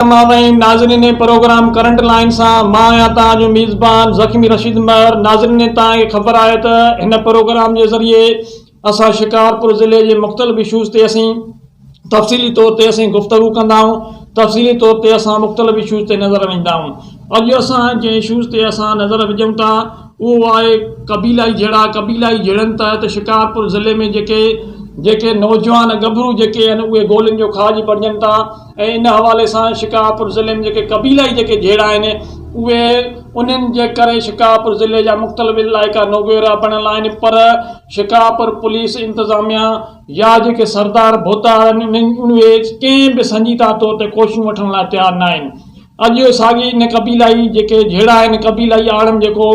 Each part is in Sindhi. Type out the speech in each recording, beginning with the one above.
ناوين ناظرين پروگرام ڪرنٽ لائين سان مان آهيان توهان جو ميزبان زخمي رشيد مهر ناظرين توهان کي خبر آهي ته هن پروگرام جي ذريعي اسان شڪارپور ضلعي جي مختلف اشوز تي اسين تفصيلي طور تي اسين گفتگو ڪندا آهيون تفصيلي طور تي اسان مختلف اشوز تي نظر وجهندا آهيون اڄ اسان جنهن اشوز تي اسان نظر وجهون ٿا اهو آهي قبيلائي جهيڙا قبيلائي جهيڙن تحت شڪارپور ضلعي ۾ جيڪي جيڪي نوجوان ڳڀرو جيڪي آهن اهي گولين جو کاڄ بڻجن ٿا ۽ ان حوالي سان شڪارپور ضلعي ۾ جيڪي قبيلائي جيڪي جهيڙا آهن اهي انهن جي ڪري شڪارپور ضلعي جا مختلف علائقا نوگيورا بڻيل آهن پر شڪارپور پوليس انتظاميا يا جيڪي سردار ڀوتار آهن انهن اهي ڪنهن به سنجيده طور تي ڪوششون وٺڻ لاء تيار ناهن اڳيو ساڳي نه قبيلائي جيڪي جهيڙا آهن قبيلائي آڙم جيڪو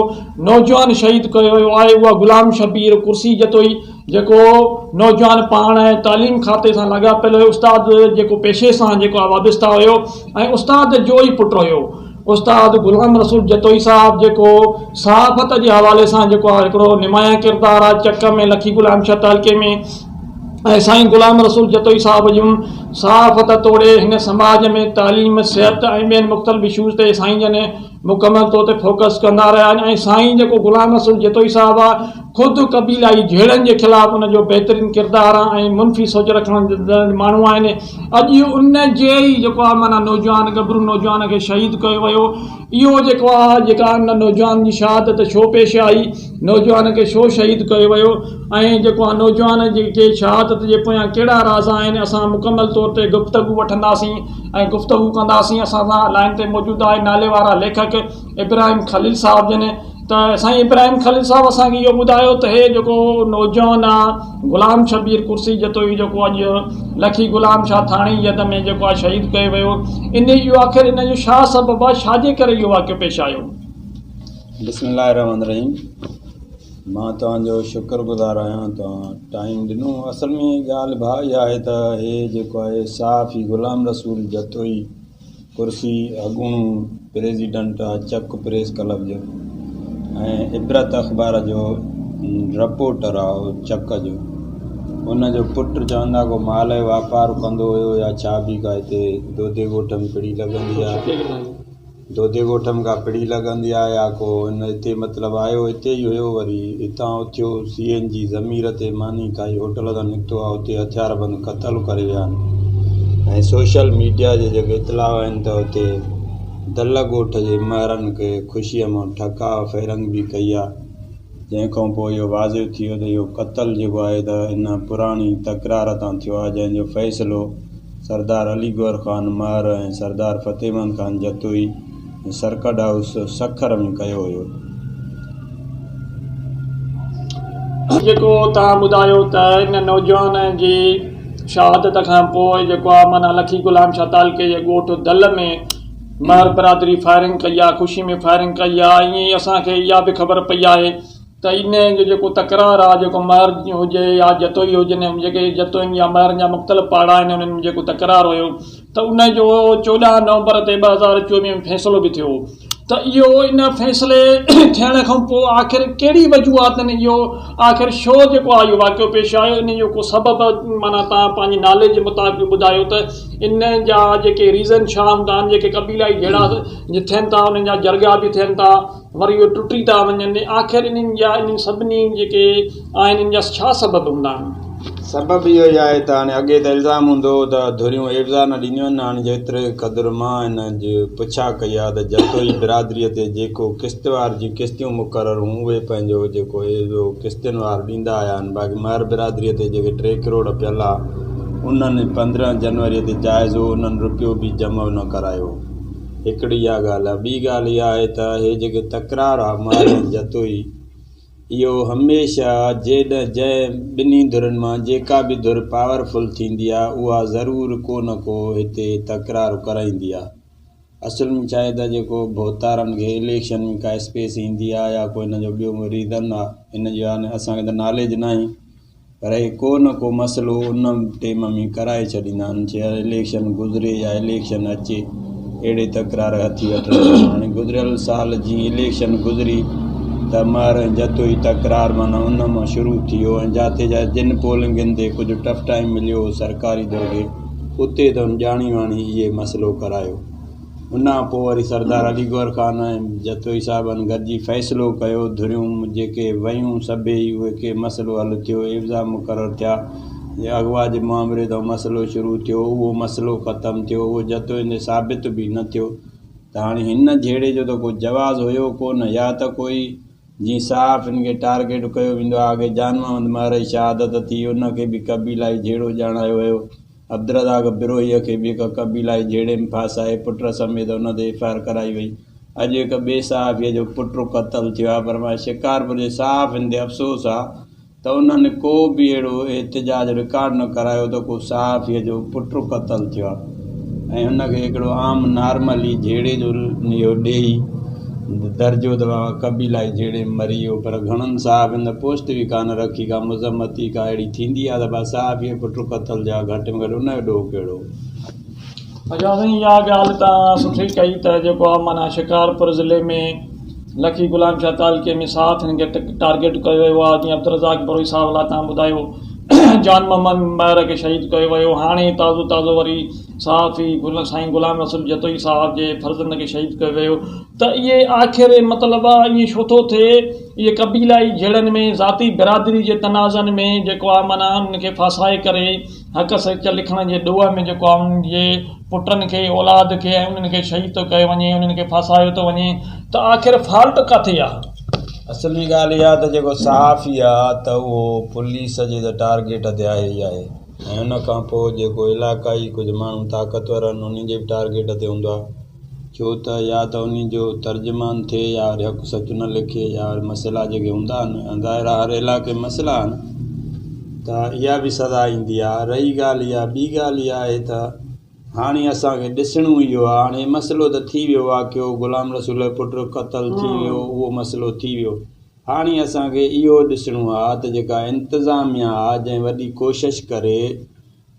نوجوان شهيد ڪيو ويو آهي اهو غلام شبير ڪرسي جتوئي جيڪو نوجوان پاڻ ۽ تعليم کاتي سان لاڳاپيل هيو استاد جيڪو پيشي سان جيڪو وابسته هيو ۽ استاد جو ئي پٽ هيو استاد غلام رسول جتوئي صاحب جيڪو صحافت جي حوالي سان جيڪو هڪڙو نمايان ڪردار آهي چڪ ۾ لکي غلام شهه تعلقي ۾ ۽ سائين غلام رسول جتوئي صاحب جون صحافت توڙي هن سماج ۾ تعليم، صحت ۽ ٻين مختلف اشوز تي سائين جن مڪمل طور تي فوڪس ڪندا رهيا آهن ۽ سائين جيڪو غلام رسول جتوئي صاحب آ خود قبيلائي جهيڙن جي خلاف ان جو بهترين ڪردار آ ۽ منفي سوچ رکڻ ماڻهو آهن اڄ ان جي ئي جيڪو آ معنيٰ نوجوان ڳڀرو نوجوان کي شهيد ڪيو ويو اهو جيڪو آ جيڪا ان نوجوان جي شهادت ڇو پيش آئي، نوجوان کي ڇو شهيد ڪيو ويو ۽ جيڪو آ نوجوان جي کي شهادت جي پويان ڪهڙا راز آهن اسان مڪمل طور تي گفتگو وٺنداسين ۽ گفتگو ڪنداسين اسان سان لائين تي موجود آهي ناليوارا ليکڪ ابراهيم خليل صاحب جن ته سائين ابراهيم خليل صاحب اسان کي اهو ٻڌايو ته هي جيڪو نوجوان آ غلام شبير ڪرسي جتوئي جيڪو اڄ لکي غلام شاهه ٿاڻي جي يد ۾ جيڪو آ شهيد ڪيو ويو انهي اهو آخر ان جو شا سبب آ شا جي ڪري اهو واقعو پيش آيو. بسم الله الرحمن الرحيم مان توهان جو شڪر گذار آهيان توهان ٽائيم ڏنو اصل ۾ ڳالهه ڀا اها آهي ته هي جيڪو آهي صحافي غلام رسول جتوئي ڪرسي اڳوڻو پريزيڊنٽ چڪ پريس ڪلب جو ۽ عبرت اخبار جو رپورٽر آ اهو چڪ جو ان جو پٽ چوندا ڪو مال جو واپار ڪندو هيو يا ڇا به ڪا هتي دودي ڳوٺ ۾ پڙي لڳندي آ دودي ڳوٺ ۾ ڪا پڙي لڳندي آ يا ڪو هن هتي مطلب آيو هتي ئي هيو وري هتان اٿيو سي اين جي ضمير تي ماني کائي هوٽل تان نڪتو آهي اتي هٿياربند قتل ڪري ويا آهن ۽ سوشل ميڊيا جي جيڪي اطلاع آهن ته اتي دل ڳوٺ جي مهرن کي خوشيء مان ٺڪاء فيرنگ به ڪئي آهي جنهن کان پوء اهو واضع ٿيو ته اهو قتل جيڪو آهي ته ان پراڻي تڪرار تان ٿيو آهي جنهن جو فيصلو سردار علي گوهر خان مهر ۽ سردار فتح مند خان جتوئي سرڪٽ هائوس سکر ۾ ڪيو ويو. جيڪو توهان ٻڌايو ته ان نوجوان جي شهادت کان پوء جيڪو آ معنيٰ لکي غلام شاھ تعلقي جي ڳوٺ دل ۾ مهر برادري فائرنگ ڪئي آ خوشي ۾ فائرنگ ڪئي آ ائين ئي اسان کي اها به خبر پئي آهي ته ان جو جيڪو تڪرار آ جيڪو مهر هجي يا جتوئي هجن جيڪي جتوئين يا مهرن جا مختلف پاڙا آهن انهن ۾ جيڪو تڪرار هيو ته ان جو چوڏهن نومبر تي ٻه هزار چوويهه ۾ فيصلو به ٿيو ته اهو ان فيصلي ٿيڻ کان پوء آخر ڪهڙي وجوهاتن اهو آخر شو جيڪو آ اهو واقعو پيش آيو ان جو ڪو سبب معنيٰ تان پنهنجي ناليج جي مطابق به ٻڌايو ته ان جا جيڪي ريزن ڇا هوندا آهن جيڪي قبيلائي جهيڙا ٿين ٿا انهن جا جرڳا به ٿين ٿا وري اهي ٽٽي ٿا وڃن ۽ آخر انهن جا انهن سڀني جيڪي آهن انهن جا ڇا سبب هوندا آهن؟ سبب اهو ئي آهي ته هاڻي اڳي ته الزام هوندو هو ته ڌريون ايوزا نه ڏينديون آهن هاڻي جيتري قدر مان هن جي پڇا ڪئي آهي ته جتوئي برادري تي جيڪو قسطوار جي قسطيون مقرر هون اهي پنهنجو جيڪو ايوزو قسطين وار ڏيندا آيا آهن باقي مهر برادري تي جيڪي ٽي ڪروڙ پيل آ انهن پندرهن جنوري تي جائزو انهن رپيو به جمع نه ڪرايو. هڪڙي اها ڳالهه آهي، ٻي ڳالهه اها آهي ته هي جيڪي تڪرار آهي محرم جتوئي اهو هميشه جيڏهن جنهن ٻنهي ڌرين مان جيڪا به ڌر پاور فل ٿيندي آهي اها ضرور ڪو نه ڪو هتي تڪرار ڪرائيندي آهي اصل ۾ ڇا آهي ته جيڪو ڀوتارن کي اليڪشن ۾ ڪا اسپيس ايندي آهي يا ڪو هن جو ٻيو ڪو ريزن آهي هن جو يعنيٰ اسان کي ته ناليج ناهي. پر اهي ڪو نه ڪو مسئلو ان ٽيم ۾ ڪرائي ڇڏيندا آهن چاهي اليڪشن گذري يا اليڪشن اچي اهڙي تڪرار هٿي وٺندا آهن هاڻي گذريل سال جي اليڪشن گذري ته مهر ۽ جتوئي تڪرار معنيٰ ان مان شروع ٿيو ۽ جاتي جا جن پولنگين تي ڪجهه ٽف ٽائيم مليو هو سرڪاري دور کي اتي ته هن ڄاڻي واڻي اهي مسئلو ڪرايو ان کان پوء وري سردار علي گوهر خان ۽ جتوئي صاحبن گڏجي فيصلو ڪيو. ڌريون جيڪي ويون سڀيئي اهي ڪي مسئلو حل ٿيو، عيوضا مقرر ٿيا. جي اغوا جي مؤامري تان مسئلو شروع ٿيو، اهو مسئلو ختم ٿيو. اهو جتوئين تي ثابت به نه ٿيو ته هاڻي هن جهيڙي جو ته ڪو جواز هيو ڪو نه يا ته ڪوئي جيئن صحافين کي ٽارگيٽ ڪيو ويندو آهي. اڳي جانمحمد مهرئي شهادت ٿي، ان کي به قبيلائي جهيڙو ڄاڻايو ويو. عبدالرزاق بروهيء کي به هڪ قبيلائي جهيڙي ۾ ڦاسائي پٽ سميت ان تي ايف آء آر ڪرائي وئي. اڄ هڪ ٻئي صحافيء جو پٽ قتل ٿيو آهي پر مان شڪارپور جي صحافين تي افسوس آهي ته انهن ڪو به اهڙو احتجاج رڪارڊ نه ڪرايو ته ڪو صحافيء جو پٽ قتل ٿيو آهي ۽ هن کي هڪڙو عام نارمل ئي جهيڙي جو نيو ڏيئي درجو دوا قبيلائي جھيڙي م مري ويو پر گھڻن صحافين ته پوسٽ به ڪانه رکي ڪا مذمت ئي ڪا اھڙي ٿيندي آھي ته ڀلا صحافي جي پٽ قتل جا گھٽ م گھٽ ان جو ڏوھ ڪھڙو اچا سائين اھا ڳالھ توھان سٺي ڪئي ته جيڪو آ معنيٰ شڪارپور ضلعي ۾ لڪي غلام شاھ تعلقي ۾ صحافين کي ٽارگيٽ ڪيو ويو آ جيئن عبدالرزاق بروھي صاحب لاء توھان ٻڌايو جان محمد ميھر کي شھيد ڪيو ويو ھاڻي تازو تازو وري صحافي گل سائين غلام رسول جتوئي صاحب جي فرزند کي شهيد ڪيو ويو ته اهي آخر مطلب آ ائين ڇو ٿو ٿئي اهي قبيلائي جهيڙن ۾ ذاتي برادري جي تنازعن ۾ جيڪو آ معنيٰ انهن کي ڦاسائي ڪري حق سچ لکڻ جي ڏوهه ۾ جيڪو آ انهن جي پٽن کي اولاد کي ۽ انهن کي شهيد ٿو ڪيو وڃي انهن کي ڦاسايو ٿو وڃي ته آخر فالٽ ڪاٿي آ. اصلي ڳالهه اها آ ته جيڪو صحافي آ ته اهو پوليس جي ته ٽارگيٽ تي آهي ئي آهي. ۽ ان کان پوء جيڪو علاقائي ڪجهه ماڻهو طاقتور آهن انهن جي به ٽارگيٽ تي هوندو آهي. ڇو ته يا ته انهن جو ترجمان ٿئي يا وري حق سچ نه لکي يا وري مسئلا جيڪي هوندا آهن ۽ ظاهر آهي هر علاقي ۾ مسئلا آهن ته اها به سزا ايندي آهي. رهي ڳالهه اها ٻي ڳالهه اها آهي ته هاڻي اسان کي ڏسڻو اهو آهي هاڻي هي مسئلو ته ٿي ويو واقعو غلام رسول جو پٽ قتل ٿي ويو اهو مسئلو ٿي ويو هاڻي اسان کي اهو ڏسڻو آ ته جيڪا انتظاميا آ جنهن وڏي ڪوشش ڪري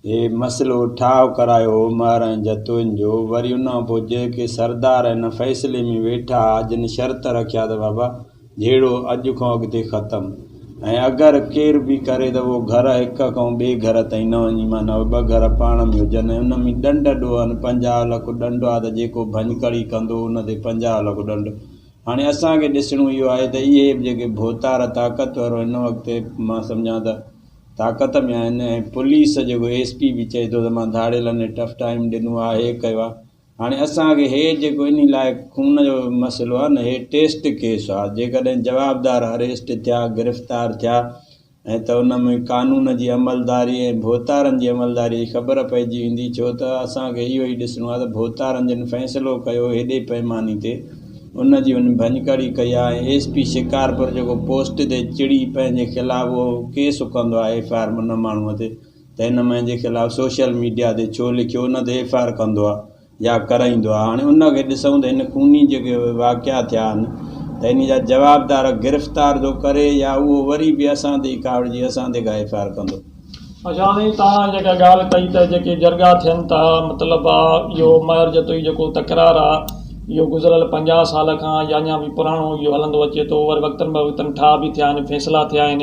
هي مسئلو ٺاهه ڪرايو هو مهر ۽ جتوئين جو وري ان کان پوء جيڪي سردار هن فيصلي ۾ ويٺا آ جن شرط رکيا ته بابا جهيڙو اڄ کان اڳتي ختم ۽ اگر ڪير به ڪري ته اهو گهر هڪ کان ٻئي گهر تائين نه وڃي معنيٰ اهي ٻه گهر پاڻ ۾ هجن ۽ ان ۾ ڏنڊ ڏوهن پنجاهه لک ڏنڊ آ ته جيڪو ڀڃڪڙي ڪندو ان تي پنجاهه لک ڏنڊ هاڻي اسان کي ڏسڻو اهو آهي ته اهي به جيڪي ڀوتار طاقتور هن وقت مان سمجهان ته طاقت ۾ آهن ۽ پوليس جيڪو ايس پي به چئي ٿو ته مان ڌاڙيلن کي ٽف ٽائيم ڏنو آهي هي ڪيو آهي هاڻي اسان کي هي جيڪو انهي لاء خون جو مسئلو آهي نه هي ٽيسٽ ڪيس آهي جيڪڏهن جوابدار اريسٽ ٿيا گرفتار ٿيا ائين ته ان ۾ قانون جي عملداري ۽ ڀوتارن جي عملداري جي خبر پئجي ويندي ڇو ته اسان کي اهو ئي ڏسڻو آهي ته ڀوتارن جن فيصلو ڪيو هيڏي پئماني تي ان جي هن ڀڃڪڙي ڪئي آهي ۽ ايس پي شڪارپور جيڪو پوسٽ تي چڙي پنهنجي خلاف اهو ڪيس ڪندو آهي ايف آء آر ان ماڻهوء تي ته هن مهنجي خلاف سوشل ميڊيا تي ڇو لکيو نه ته ايف آء آر ڪندو آهي جا ڪرائيندو آهي هاڻي ان کي ڏسون ته هن خوني جيڪي واقعا ٿيا آهن ته ان جا جوابدار گرفتار ٿو ڪري يا اهو وري به اسان تي ئي ڪاوڙجي اسان تي ڪا ايف آء آر ڪندو. اچو هاڻي توهان جيڪا ڳالهه ڪئي ته جيڪي جرڳا ٿين ٿا مطلب آ اهو مهر جتوئي جيڪو تڪرار آ اهو گذريل پنجاهه سال کان يا اڃا به پراڻو اهو هلندو اچي ٿو وري وقتن به وقتن ٺاهه به ٿيا آهن فيصلا ٿيا آهن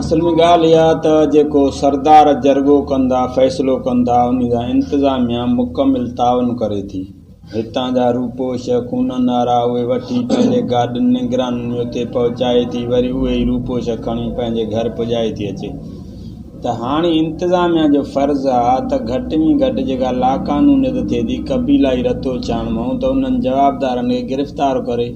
اصل ۾ ڳالهه اها ته جيڪو سردار جرڳو ڪن ٿا، فيصلو ڪن ٿا، انهي سان انتظاميا مڪمل تعاون ڪري ٿي. هتان جا روپوش، خونن وارا، اهي وٺي پنهنجي گاڏين نگرانن ۾ اتي پهچائي ٿي، وري اهي ئي روپوش کڻي پنهنجي گهر پڄائي ٿي اچي. ته هاڻي انتظاميا جو فرض آ ته گهٽ ۾ گهٽ جيڪا لاقانونيت ٿئي ٿي، قبيلائي رتوڇاڻ مئون ته انهن جوابدارن کي گرفتار ڪري.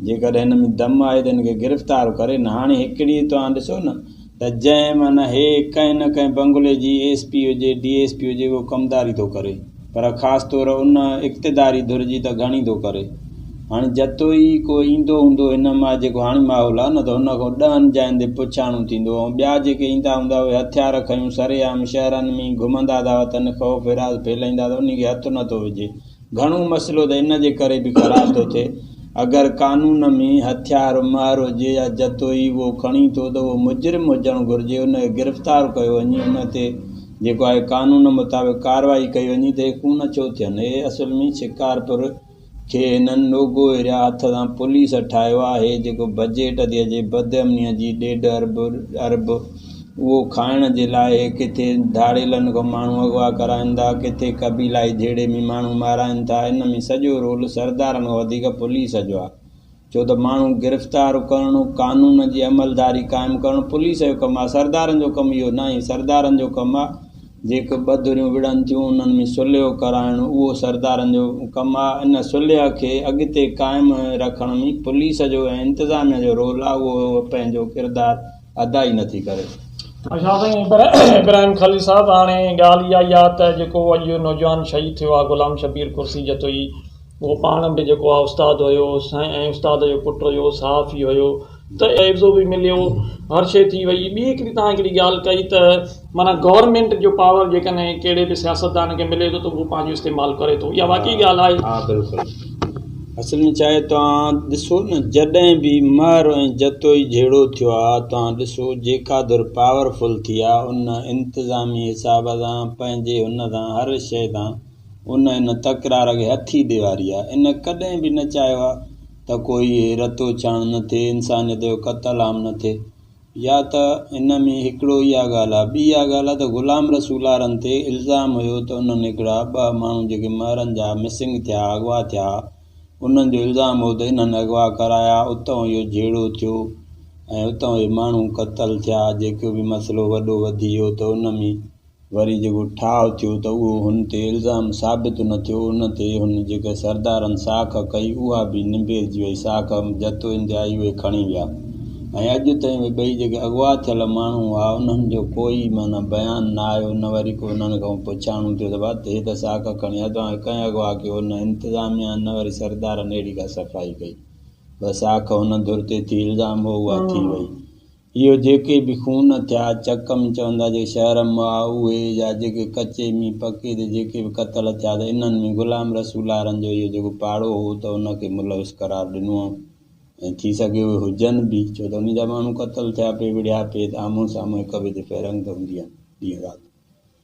جيڪڏهن هن ۾ دم آهي ته هن کي گرفتار ڪري نه هاڻي هڪڙي توهان ڏسو نه ته جنهن معنيٰ هي ڪنهن نه ڪنهن بنگلي جي ايس پي هجي ڊي ايس پي هجي اهو ڪمداري ٿو ڪري پر خاص طور ان اقتداري ڌر جي ته گهڻي ٿو ڪري هاڻي جتو ئي ڪو ايندو هوندو هن مان جيڪو هاڻي ماحول آهي نه ته هن کان ڏهن جاين تي پڇاڻو ٿيندو ۽ ٻيا جيڪي ايندا هوندا اهي هٿيار کنيون سرعام شهرن ۾ ئي گهمندا ٿا وتن خوف هراس ڦهلائيندا ته انهي کي هٿ نه ٿو وجهي گهڻو مسئلو ته ان جي ڪري به خراب ٿو ٿئي اگر قانون ۾ هٿيار مهر هجي يا جتوئي اهو کڻي ٿو ته اهو مجرم هجڻ گهرجي ان کي گرفتار ڪيو وڃي ان تي جيڪو آهي قانون مطابق ڪارروائي ڪئي وڃي ته اهي خون ڇو ٿين اهي اصل ۾ شڪارپور کي هنن لوگو ايريا هٿ سان پوليس ٺاهيو آهي جيڪو بجيٽ تي اچي بدامني جي ڏيڍ ارب اهو کائڻ جي لاء ڪٿي ڌاڙيلن کان ماڻهو اغوا ڪرائن ٿا ڪٿي قبيلائي جهيڙي ۾ ماڻهو مارائن ٿا ان ۾ سڄو رول سردارن کان وڌيڪ پوليس جو آهي ڇو ته ماڻهو گرفتار ڪرڻو قانون جي عملداري قائم ڪرڻ پوليس جو ڪم آهي سردارن جو ڪم اهو ناهي سردارن جو ڪم آهي جيڪي ٻه ڌريون وڙهن ٿيون انهن ۾ صلحو ڪرائڻ اهو سردارن جو ڪم آهي ان صلح کي اڳتي قائم رکڻ ۾ پوليس جو ۽ انتظاميه جو رول آهي اهو پنهنجو ڪردار ادا ئي نٿي ڪري. ادا سائين پر ابراهيم خليل صاحب هاڻي ڳالهه اها ئي آ ته جيڪو اڄ اهو نوجوان شهيد ٿيو آ غلام شبير ڪرسي جتوئي اهو پاڻ به جيڪو آ استاد هيو سائين ۽ استاد جو پٽ هيو صحافي هيو ته عيوضو به مليو هر شي ٿي وئي ٻي هڪڙي توهان هڪڙي ڳالهه ڪئي ته معنيٰ گورنمينٽ جو پاور جيڪڏهن ڪهڙي به سياستدان کي ملي ٿو ته اهو پنهنجو استعمال ڪري ٿو اها واقعي ڳالهه آهي. ها بلڪل اصل ۾ ڇا آهي توهان ڏسو نه جڏهن به مهر ۽ جتوئي جهيڙو ٿيو آهي توهان ڏسو جيڪا ڌر پاور فل ٿي آهي ان انتظامي حساب سان پنهنجي هن سان هر شئي سان ان ان تڪرار کي هٿي ڏيواري آهي ان ڪڏهن به نه چاهيو آهي ته ڪوئي رتو ڇڻ نه ٿئي انسانيت جو قتل عام نه ٿئي يا ته ان ۾ هڪڙو اها ڳالهه آهي، ٻي اها ڳالهه آهي ته غلام رسولارن تي الزام هيو ته انهن هڪڙا ٻه ماڻهو جيڪي مهرن جا مسنگ ٿيا، اغوا ٿيا، انهن جو الزام هو ته انهن اغوا ڪرايا، اتئون اهو جهيڙو ٿيو ۽ اتئون اهي ماڻهو قتل ٿيا، جيڪو به مسئلو وڏو وڌي ويو ته ان ۾ وري جيڪو ٺاهه ٿيو ته اهو هن تي الزام ثابت نه ٿيو، ان تي هن جيڪا سردارن ساک ڪئي اها به نبيرجي وئي، ساک جتو اندي آئي اهي کڻي ويا ۽ اڄ تائين اهي ٻئي جيڪي اغوا ٿيل ماڻهو هئا انهن جو ڪوئي معنيٰ بيان نه آيو نه وري ڪو انهن کان پڇاڻو ٿيو ته ڀت هي ته ساک کڻي ويا توهان کي ڪنهن اغوا ڪيو، نه انتظاميا نه وري سردارن اهڙي ڪا صفائي ڪئي، بس ساک هن ڌر تي ٿي الزام هو اها ٿي وئي. اهو جيڪي به خون ٿيا چڪم چوندا جيڪي شهر م آ اهي يا جيڪي ڪچي مين پڪي تي جيڪي به قتل ٿيا ته انهن ۾ غلام رسولارن جو اهو جيڪو پاڙو هو ته ان کي ملوث قرار ڏنو هئم ۽ ٿي سگهي اهي هجن به ڇو ته انهن جا ماڻهو قتل ٿيا پي وڙهيا پي ته آمهون سامهون هڪ ٻئي تي فيرنگ ته هوندي آهن ڏينهن رات.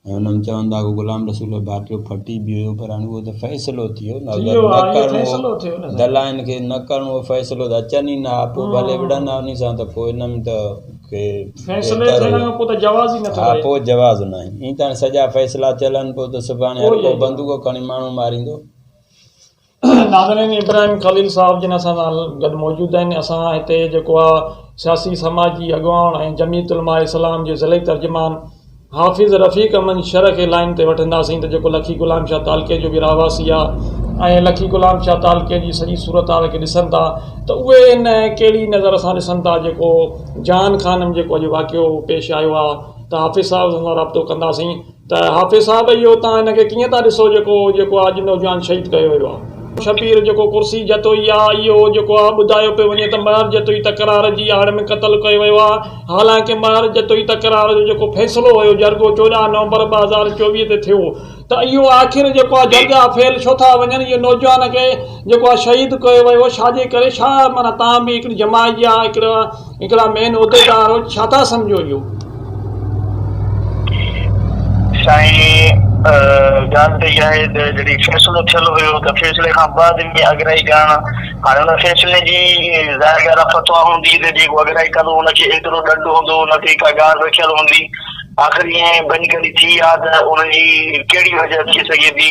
۽ انهن چون ٿا ڪو غلام رسول ڀاٽيو ڦٽي به ويو پر هاڻي اهو ته فيصلو ٿي ويو نه اگر نه ڪرڻو هو دلائن کي نه ڪرڻو هو فيصلو ته اچن ئي نه ها پوء ڀلي وڙهن ها انهي سان ته پوء ان ۾ ته ڪي بهتر هو ها پوء جواز ناهي ائين ته هاڻي سڄا فيصلا چيل آهن پوء ته سڀاڻي هر ڪو بندوق کڻي ماڻهو ماريندو. ناظرين ابراهيم خليل صاحب جن اسان سان گڏ موجود آهن اسان هتي جيڪو آ سياسي سماجي اڳواڻ ۽ جميعت علماء اسلام جي ضلعي ترجمان حافظ رفيق احمد شرح کي لائين تي وٺنداسين ته جيڪو لکي غلام شاھ تعلقي جو به رهواسي آ ۽ لکي غلام شاھ تعلقي جي سڄي صورتحال کي ڏسن ٿا ته اهي ان ڪهڙي نظر سان ڏسن ٿا جيڪو جان خان ۾ جيڪو اڄ واقعو پيش آيو آ ته حافظ صاحب سان رابطو ڪنداسين ته حافظ صاحب اهو تان ان کي ڪيئن ٿا ڏسو جيڪو جيڪو اڄ نوجوان شهيد ڪيو ويو آهي. شبير جيڪو ڪرسي جتوئي آ اهو جيڪو آ ٻڌايو پيو وڃي ته مهر جتوئي تڪرار جي آڙ ۾ قتل ڪيو ويو آ حالانڪه مهر جتوئي تڪرار جو جيڪو فيصلو هيو جرڳو چوڏهن نومبر ٻه هزار چوويهه تي ٿيو ته اهو آخر جيڪو آ جرڳا فيل ڇو ٿا وڃن اهو نوجوان کي جيڪو آ شهيد ڪيو ويو ڇاجي ڪري ڇا معنيٰ تان به هڪڙي جماعت جا هڪڙا هڪڙا مين عهديدار هو ڇا ٿا سمجهو جو. سائين ڳالهه ته اها آهي ته جڏهن فيصلو ٿيل هيو ته فيصلي کان بعد ۾ اڳرائي ڪرڻ هاڻي ان فيصلي جي ظاهر ڳالهه آهي فتويٰ هوندي ته جيڪو اڳرائي ڪندو ان کي ايترو ڏنڊ هوندو ان تي ڪا ڳاڙهه رکيل هوندي آخر ائين ڀڃڪڙي ٿي آ ته ان جي ڪهڙي وجهه ٿي سگهي ٿي.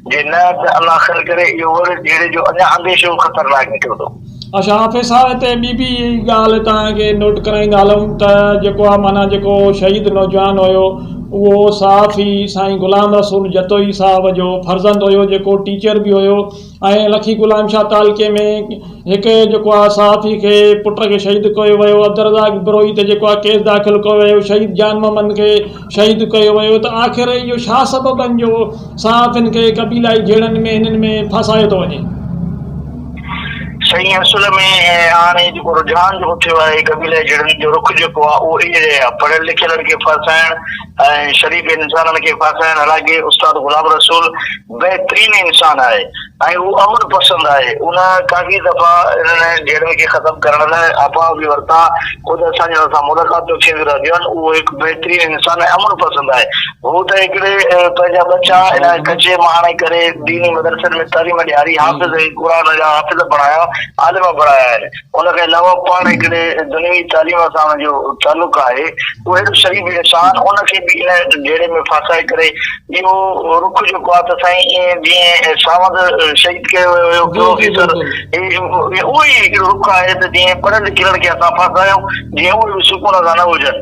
جي نه ته الله خير ڪري اهو وري جهيڙي جو اڃا انديشو خطرناڪ نڪرندو. اچا حافظ صاحب هتي ٻي به ڳالهه توهان کي نوٽ ڪرائيندا هلون ته جيڪو آ معنيٰ جيڪو شهيد نوجوان هيو اهو صحافي سائين غلام رسول جتوئي صاحب جو فرزند هيو جيڪو ٽيچر به هيو ۽ لکي غلام شاهه تعلقي ۾ هڪ جيڪو آ صحافي کي پٽ کي شهيد ڪيو ويو عبدالرزاق بروهي تي جيڪو آ ڪيس داخل ڪيو ويو شهيد جان محمد کي شهيد ڪيو ويو ته آخر اهو ڇا سبب آهن جو صحافين کي قبيلائي جهيڙن ۾ هنن ۾ ڦاسايو ٿو وڃي. سائين اصل ۾ هاڻي جيڪو رجحان جيڪو ٿيو آهي قبيلائي جهيڙن جو رخ جيڪو آهي اهو اهڙي جهڙي آهي پڙهيل لکيلن کي ڦاسائڻ ۽ شريف انسانن کي ڦاسائڻ حالانڪه استاد غلام رسول بهترين انسان آهي ۽ هو امن پسند آهي. ان ڪافي دفعا انهن جهيڙن کي ختم ڪرڻ لاء اپاء به ورتا. خود اسان جي هن سان ملاقاتون ٿينديون رهنديون آهن. اهو هڪ بهترين انسان ۽ امن پسند آهي. هو ته هڪڙي پنهنجا ٻچا ان ڪچي مهاڻي ڪري ديني مدرسن ۾ تعليم ڏياري، حافظ ۽ قرآن جا حافظ بڻايا، عالم بڻايا آهن. ان کان علاوه پاڻ هڪڙي دنيوي تعليم سان ان جو تعلق آهي، اهو هيڏو شريف انسان ان کي به ان جهيڙي ۾ ڦاسائي ڪري اهو رخ جيڪو آهي ته سائين ائين جيئن ساوند شهيد ڪيو ويو هيو پروفيسر اهو ئي هڪڙو رخ آهي ته جيئن پڙهيل لکيل کي اسان ڦاسايون جيئن اهي به سڪون سان نه هجن.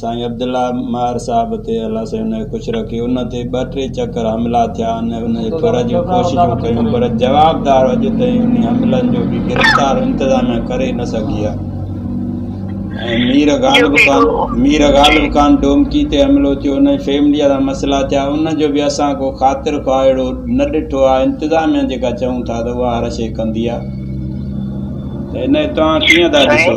سائين عبدالله ماهر صاحب تي الله سائين انهيء خوش رکي ان تي ٻه ٽي چڪر حملا ٿيا آهن ۽ ان جي ڦر جون ڪوششون ڪيون پر جوابدار اڄ تائين انهي حملن جو ڪي گرفتار انتظاميا ڪري نه سگهي آهي ۽ مير غالب خان مير غالب خان ڊومڪي تي حملو ٿيو انهي فيمليء سان مسئلا ٿيا ان جو به اسان ڪو خاطر خواهه اهڙو نه ڏٺو آهي انتظاميا جيڪا چئون ٿا ته اها هر شيء ڪندي آهي ته انهي توهان ڪيئن ٿا ڏسو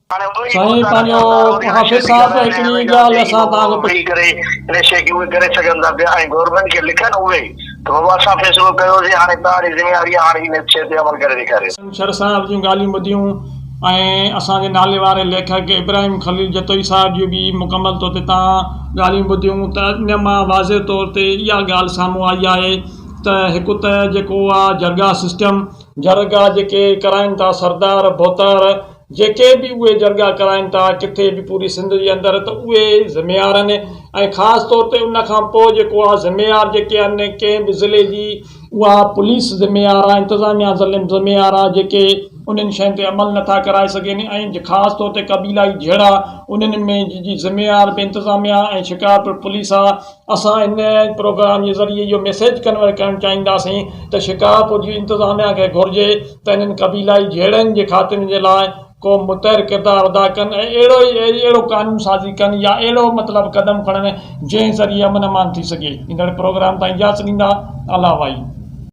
سائين پنهنجو حافظ صاحب هڪڙي ڳالهه اسان توهان کان پڇي ڪري ان شي کي اهي ڪري سگهن ٿا پيا ۽ گورنمينٽ کي لکن اهي ته بابا اسان فيصلو ڪيوسي هاڻي توهان جي ذميواري آهي هاڻي ان شي تي عمل ڪري ڏيکاريو. ڇنڇر صاحب جون ڳالهيون ٻڌيون ۽ اسان جي ناليواري ليکڪ ابراهيم خليل جتوئي صاحب جون به مڪمل طور تي تان ڳالهيون ٻڌيون ته ان مان واضح طور تي اها ڳالهه سامهون آئي آهي ته هڪ ته جيڪو اها جرگا سسٽم جرگا جيڪي ڪرائين ٿا سردار ڀوتار جيڪي به اهي جرڳا ڪرائين ٿا ڪٿي به پوري سنڌ جي اندر ته اهي ذميارن ۽ خاص طور تي ان کان پوء جيڪو آ ذميار جيڪي آهن ڪنهن به ضلعي جي اها پوليس ذميار آ انتظاميا ذميار آ جيڪي انهن شين تي عمل نٿا ڪرائي سگهين ۽ خاص طور تي قبيلائي جهيڙا انهن ۾ جي ذميار به انتظاميا ۽ شڪارپور پوليس آ. اسان هن پروگرام جي ذريعي اهو ميسيج ڪنوي ڪرڻ چاهينداسين ته شڪارپور جي انتظاميا کي گهرجي ته انهن قبيلائي جهيڙن جي خاتمي جي لاء ڪو متحر ڪردار ادا ڪن ۽ اهڙو ئي اهڙو قانون سازي ڪن يا اهڙو مطلب قدم کڻن جنهن ذريعي امن امان ٿي سگهي ايندڙ پروگرام تائين اجازت ڏيندا الله وائي.